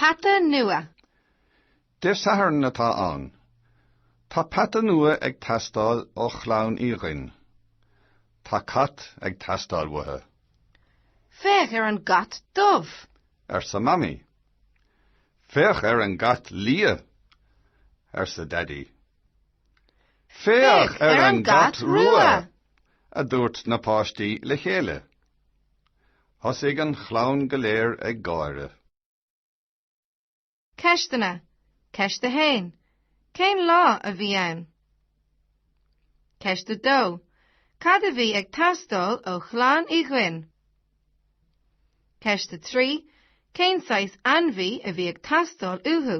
Peata nua! Dé Sathairn atá ann. Tá peata nua ag teastáil ó chlann Uí Dhuinn. Tá cat ag teastáil uathu. Féach ar an gcat dubh! arsa Mamaí. Féach ar an gcat liath! arsa Daidí. Féach ar an gcat rua! a dúirt na páistí le chéile. Thosaigh an chlann go léir ag gáire. Ceisteanna, Ceist 1. Cén lá a bhí ann? Ceist 2. Cad a bhí ag teastáil ó chlann Uí Dhuinn? Ceist 3. Cén saghas ainmhí a bhí ag teastáil uathu?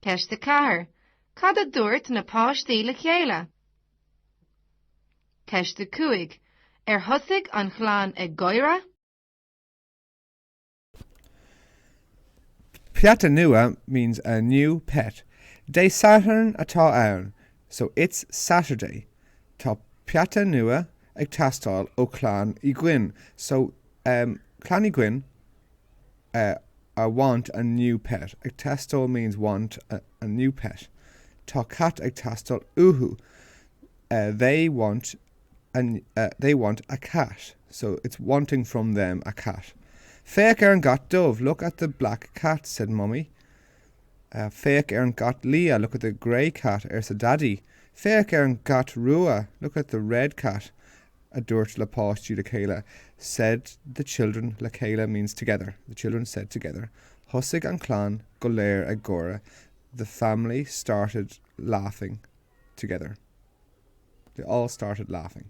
Ceist 4. Cad a dúirt na páistí le chéile? Ceist 5, Ar thosaigh an chlann ag gáire? Peata nua means a new pet. Dé Sathairn atá ann, so it's Saturday. Tá peata nua ag teastáil ó Chlann Uí Dhuinn, so, ehm, Clann Uí Dhuinn, a I want a new pet. Ag teastáil means want a new pet. Tá cat ag teastáil uathu They want a, they want a cat. So, it's wanting from them a cat. Féach ar an gcat dubh Look at the black cat, said Mummy. Féach ar an gcat liath Look at the grey cat, arsa Daidí. Féach ar an gcat rua Look at the red cat. a dúirt le páistí le chéile, said the children le chéile means together, the children said together thosaigh an chlann go léir ag gáire the family started laughing together, they all started laughing.